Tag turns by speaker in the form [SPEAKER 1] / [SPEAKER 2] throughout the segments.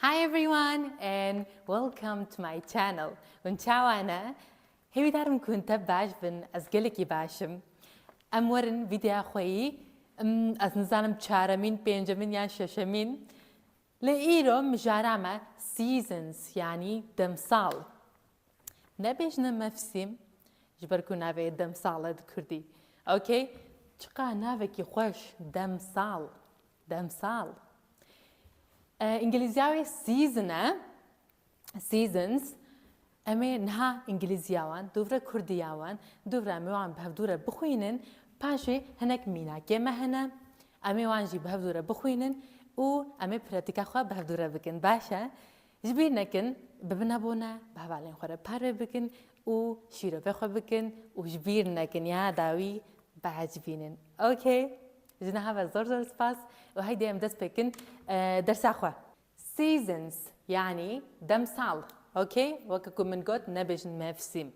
[SPEAKER 1] Hi everyone and welcome to my channel. Un çawana hewi darim kun te baş bin ez gelekî başim. Em werin vîdya xweyî ez nizanim çaremîn, pêncemîn yan şeşemîn. Lê îro mijara me seasons yanî demsal. Nebêjne mevsîm ji ber ku navê demsal e di kurdî. Okay? Çiqa navekî xweş demsal. Demsal. Îngilîzya wê season e. Seasons. Em ê niha îngilîzya wan, dûvre kurdiya wan, dûvre em ê wan bi hevdû re bixwînin, paşê hinek mînakê me hene, em ê wan jî bi hevdû re bixwînin û em ê pratika xwe bi hevdû re bikin. Baş e? Ji bîr nekin, bibin abone, bi hevalên xwe re parve bikin û şîrovê xwe bikin û ji bîr nekin ya dawî biecibînin. Ok? Ji niha ve zor zor spas û heydê em dest pê kin dersa xwe. Seasons yanî demsal ok weke ku min got nebêjin mevsîm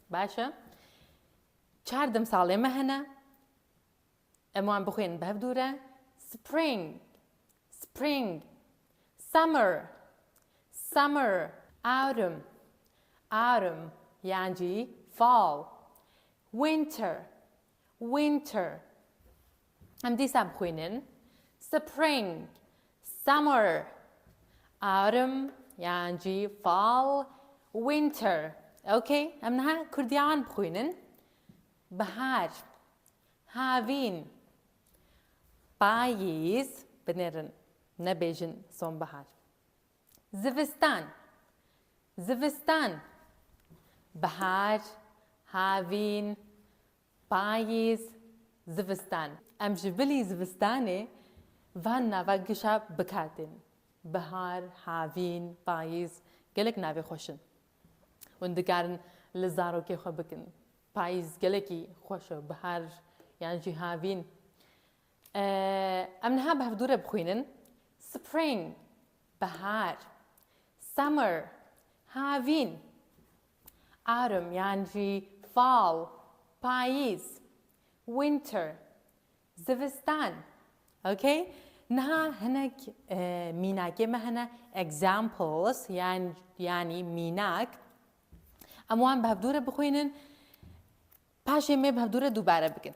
[SPEAKER 1] baş e. Çar demsalê me hene em wan bixwînin bi hev dû re spring spring summer summer autumn autumn yan jî fall winter Winter Em dîsa bixwînin Spring Summer Autumn yan jî Fall Winter Ok em niha Kurdîya wan bixwînin Bihar Havîn Payîz Binêrin nebêjin Sonbihar. Zivistan Zivistan Bihar Havîn Payîz Zivistan Em ji bilî zivistanê van nava gişa bikar tên. Bihar Havîn Payîz gelek navê xweş in. Hûn dikarin li zarokê xwe bikin. Payîz gelekî xweş e. Bihar yan jî Havîn. Em niha bi hevdûre bixwînin, Spring, bihar, Summer, havîn, Autumn yan jî fall, payîz, Winter, zivistan. Ok? Niha hinek mînakê me hene examples yan yanî mînak. Em wan bi hevdûre bixwînin, paşê me bi hevdûre dubare bikin.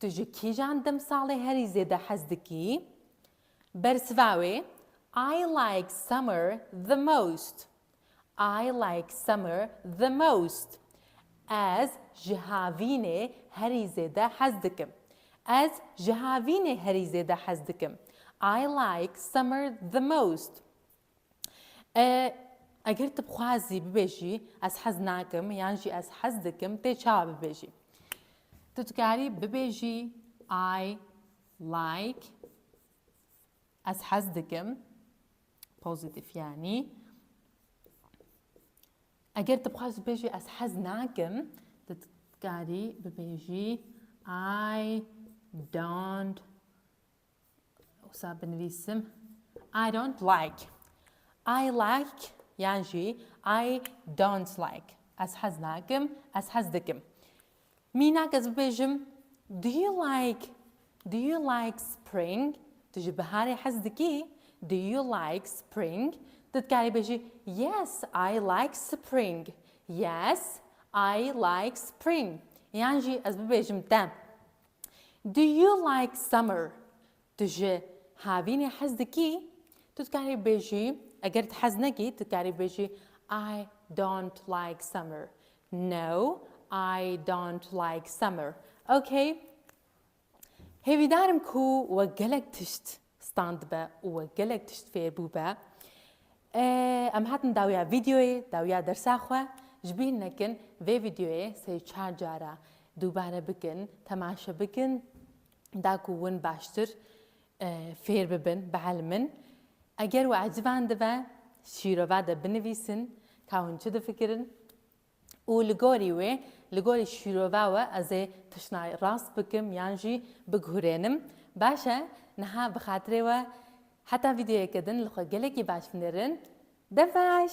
[SPEAKER 1] Tu ji kîjan demsalê herî zêde hez dikî? Bersiva wê, I like summer the most. I like summer the most. Ez ji havînê herî zêde hez dikim. Ez ji havînê herî zêde hez dikim. I like summer the most. E, eger tu bixwazî bibêjî ez hez nakim yan jî ez hez dikim tê çawa bibêjî. Tu dikarî bibêjî I like ez hez dikim pozitif yanî eger tu bixwazî bibêjî ez hez nakim tu dikarî bibêjî I don't Wisa binivîsim I don't like. I like yan jî I don't like. Ez hez nakim, ez hez dikim. Mînak ez bibêjim Do you like Do you like spring? Tu ji biharê hez dikî? Do you like spring? Tu dikarî bêjî Yes, I like spring. Yes, I like spring. Yan jî ez bibêjim te Do you like summer? Tu ji havînê hez dikî? Tu dikarî bêjî eger tu hez nekî tu dikarî bêjî I don't like summer. No, I don't like summer. Okay. Hêvîdarim ku we gelek tişt Standibe û we gelek tişt fêr bûbe. Em hatin dawiya vîdeoyê, dawiya dersa xwe. Ji bîr nekin vê vîdeoyê sê û çar cara dubare bikin, temaşe bikin da ku win baştir fêr bibin, bielmin. Eger we ecivan dibe, şîrova de binivîsin ka hûn çi difikirin û li gorî wê, li gorî şîrove we ez ê tiştnayê rast bikim yan jî biguhurênim. Baş e, niha bi xatirê we heta vîdeoyeke din li xwe gelekî baş binêrin. Dev baş!